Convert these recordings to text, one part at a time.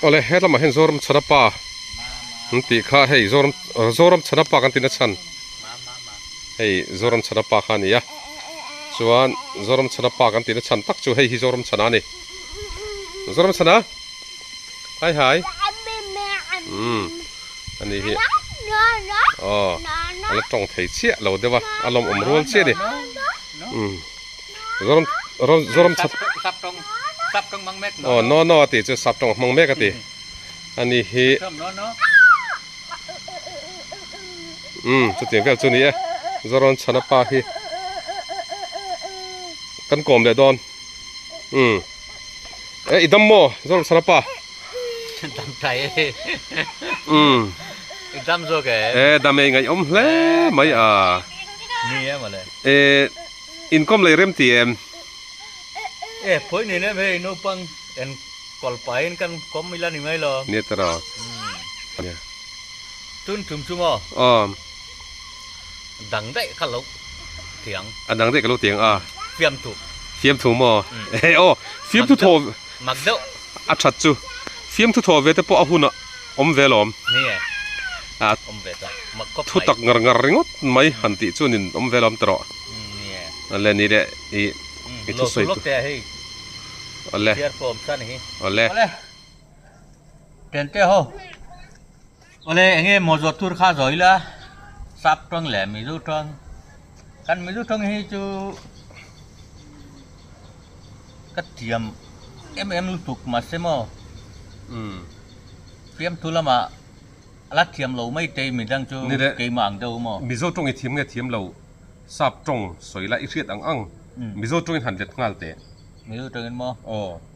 Awle he lamah hian Zoram chhana pa an tih kha hei Zoram Zoram chhana pa kan tina chhan hei Zoram chhana pa kha a ni a chuan Zoram chhana pa kan tihna chhan tak chu hei hi Zoram chhana a ni Zoram chhana. Hi hi. Umm. Ani hi. Aww. Ala tawng thei chiah lo deuh a. A lawm awm rual chiah a ni. Umm. Zawram zawram chhak. Sap tawng sap tawng mang mek. Aww no no a tih chu sap tawng a hmang mek a ti. Ani hi. Umm chuti vel chu a ni e. Zawrawn chhana pa hi kan kawm leh dawn. Umm. Eh, idam mo, zol sarapa. Dam tai. Um. Idam zo ke. Eh, dam ei ngai om hle mai a. Ni em ale. Eh, income lei rem ti em. Eh, poi ni nem he no pang en kol pa in kan kom ila ni mai lo. Ni tara. Tun tum tum o. Um. Dang daih ka lo tiang. A dang daih ka lo tiang a. Fiamthu. Fiamthu maw? He aw, fiamthu thaw. Mak deuh. A that chu. Fiamthu thaw ve te pawh a hun a awm ve lawm. Ni e. A awm ve ta. Mak khawp mai. Thu tak ngar ngar ringawt mai han tih chuan in awm ve lawm ta rawh. Ni e. A le ni le i i thu sawi. Lo thu lawk te hei. A le. Thiar pawm ta ni hi. A le. A le. Tente ho. Awle enge maw zawt tur kha zawi la sap tawng leh mizo tawng kan mizo tawng hi chu ka thiam em em lutuk ma se maw um fiam thu lama ala thiam lo mai te mi dang chu keimah ang deuh maw mizo tawng i thiam nge thiam lo sap tawng sawi la i hriat ang ang mizo tawng in han let nghal teh mizo tawng in maw aw.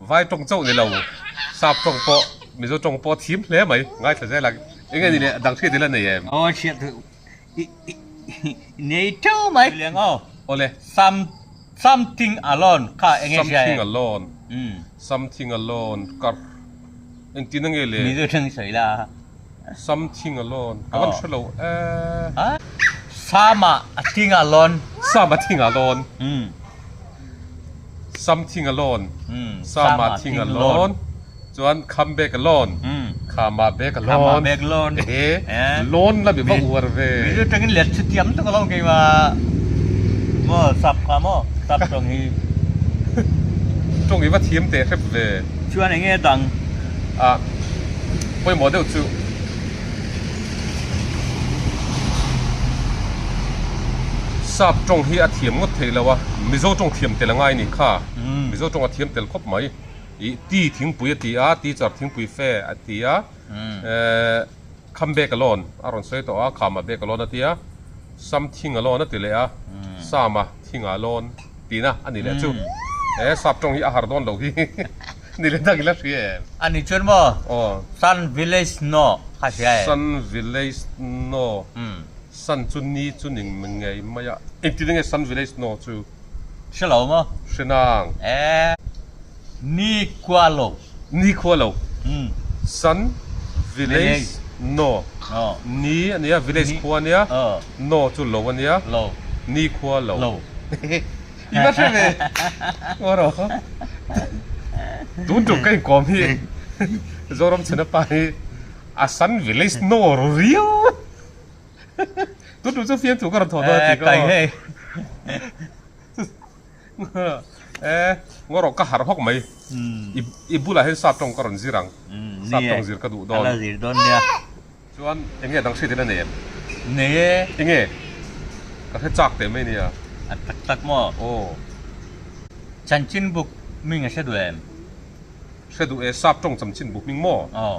Vai tawng chauh ni lo, sap tawng pawh, Mizo tawng pawh thim hle mai, ngaithla zel ang. Eng nge ni le, a dang chhiat ila nei em? Aw chhiat duh i nei teuh mai. Tiliang aw, awle something alone kha eng nge hria em? Something alone, something alone ka engtin ange le? Mizo tawng sawi la. Sam thing a lawn. Ka van hre lo e. Sam a thing a lawn. Sam a thing a lawn. Sam thing a lawn. Sam a thing a lawn. Chuan come back a lawn. Come a back a lawn. Come a back a lawn. Ehe. Lawn la mi va uar ve. Min chu tengin let chhuti ang tak alawm kei mah. Maw sap kha maw? Sap tawng hi. Tawng hi va thiam teh hrep ve. Chuan enge dang? Ah. Pawimawh deuh chu. Sap tawng hi a thiam ngawt theih lo a, Mizo tawng thiam tel angai ni kha, Mizo tawng a thiam tel khawp mai. Ih, Ti thingpui a ti a, Teacher thingpui fe a ti a, Come back alone a rawn sawi tawh a, Come back alone a ti a, Something alone a ti leh a, Some a. Hi nga lawn tina a ni leh chu. He sap tawng hi a har dawn lo hi ni leh tak ila hria em? A ni chuan maw? Aw. Sun village no kha hria em? Sun village no. Sun chu ni chu ni ngei mai a. Engtin nge sun village no chu? Hre lo maw? Hre nang. Ee. Ni kualo. Nikhua lo San village no ni a nia village khua a nia no chu lo a nia nikhua lo i va hre ve kawr aw tun tum ka inkawm hi Zoram chhena pa hi a San village no a ru riau tun tum chu fiamthu ka rawn thawh dawn a ti kha. Eh, ngaw ka harh hawk mai. I bulah hian sap tawng ka rawn zir ang. Sap tawng zir ka duh dawn. Ala zir dawn nia. Chuan enge dang hriatin a nei em? Nei e. Enge? Ka hre chak teh mai nia. A tak tak maw? Aw. Chanchinbuk hming a hre duh em? Hre duh e, sap tawng chanchinbuk hming maw? Aw.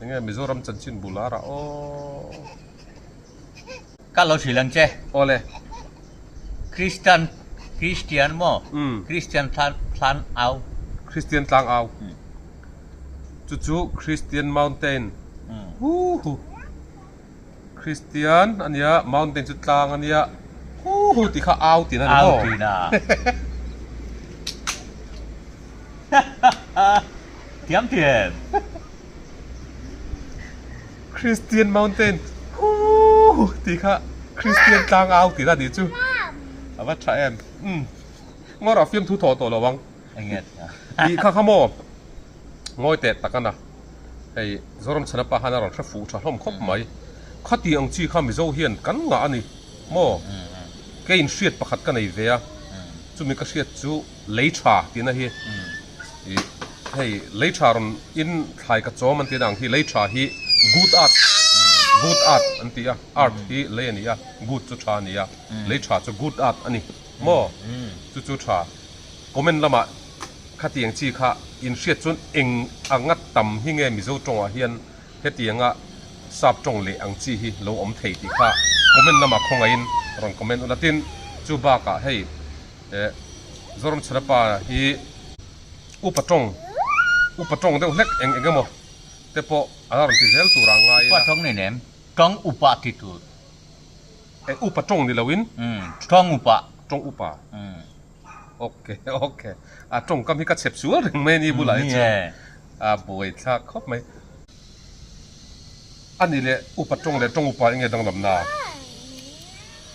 Enge Mizoram chanchin bul a rah aw. Ka lo hrilh ang che. Aw le. Christian Christian maw? Christian Thlan Au. Christian Tlang Au. Chu chu Christian Mountain. Hu hu. Kristian a nia mountain chu tlang a nia huhu tih kha au tina ni maw Thiamthiam Kristian mountain huhu tih kha Kristian tlang au tina ni chu a va tha em umm ngawrah fiamthu thawh tawh lo ang. Tih kha kha maw? Ngawi tet tak a na. Hei Zoram Chhanapa khan a rawn hre fuh tha hlawm khawp mai. Khati ang chi kha Mizo hian kan ngah a ni maw? Kei inhriat pakhat ka nei ve a, chumi ka hriat chu Leiṭha tihna hi i hei Leiṭha rawn in thlai ka chawm an tina ang hi Leiṭha hi Good Art Good Art an ti a, Art hi Lei a ni a, Good chu Ṭha a ni a, Leiṭha chu Good Art a ni maw? Chu chu Ṭha. Comment lama khatiang chi kha in hriat chuan eng a ngat tam hi nge Mizo tawngah hian hetianga sap tawng leh ang chi hi lo awm thei tih kha comment lama khawngaihin rawn comment ula tin chu bakah hei Zoram Chhunapa hi upa tawng upa tawng deuh hlek eng engemaw te pawh ala rawn ti zel tura ngai ila. Upa tawng ni nem tawng upa ti tur. Upa tawng ni loin. Tawng upa. Tawng upa. Ok ok a tawngkam hi ka chep sual reng mai ni bulah hi chu a buai thlak khawp mai a ni le upa tawng leh tawng upa enge danglam na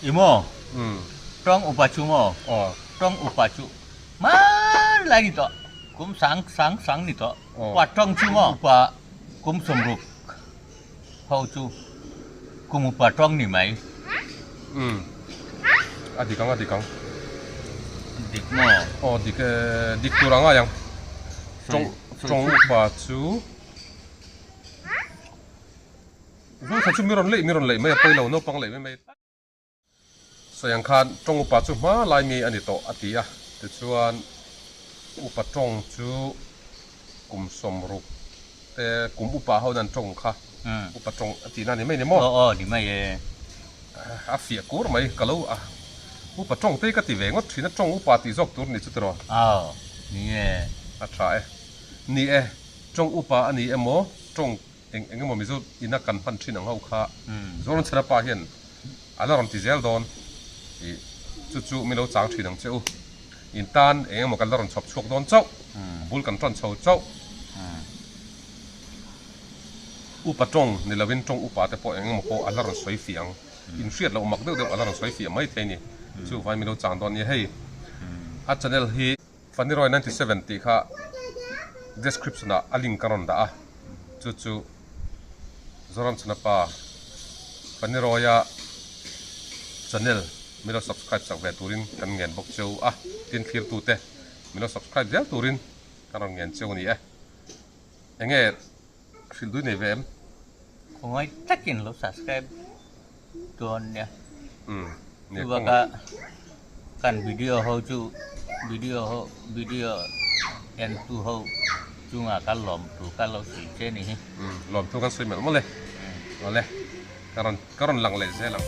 i maw um tawng upa chu maw aw tawng upa chu hmar lai ni tawh kum sang sang sang ni tawh upa tawng chu maw upa kum sawm ruk Ho chu kum upa tawng ni mai. Umm a dik ang a dik ang. Dik maw? Aw dik e, dik tur angai ang. Tawng tawng upa chu Zawngtha chu mi rawn leih mi rawn leih mai a pawilo naupang leh mai mai. Sawi ang khan Tawng upa chu hma lai nge a ni tawh a ti a, tichuan upa Tawng chu kum sawmruk te kum upa ho nan Tawng kha upa Tawng a tihna ni mai ni maw? Aw aw ni mai e. A fiah kur mai ka lo a upa Tawng te ka ti ve ngawt thin a Tawng upa tih zawk tur ni chu tiraw? Aw ni e. A tha e. Ni e, Tawng upa a ni emaw Tawng. eng eng emaw mizo ina kan hman thin ang ho kha Zawlnchhana pa hian a la rawn ti zel dawn ih chu chu min lo chang thin ang che u in tan eng emaw kan la rawn chhawp chhuak dawn chauh bul kan ṭawn chho chauh upa ṭawng ni lo in ṭawng upa te pawh eng emaw pawh a la rawn sawi fih ang in hriat loh mak deuh deuh a la rawn sawi fih ang maithei a ni chu vai min lo chang dawn a nia hei a channel hi Vaniroi ninety seven tih kha description ah a link ka rawn dah a, chu chu Zoram Chunapa Vaniroia channel min lo subscribe chak ve turin kan ngen bawk cheu a, tin thlir tu te min lo subscribe viau turin kan rawn ngen cheu a ni e. Enge hrilh dui nei ve em. Khawngai takin lo subscribe dawn nia. Um nia. Chuvaka kan video ho chu video ho video en tu ho chunga ka lawm tu ka lo sawi che ni hi. Um lawm tu kan sawi melh maw le. Maw le. Ka rawn ka rawn lang leh zel ang.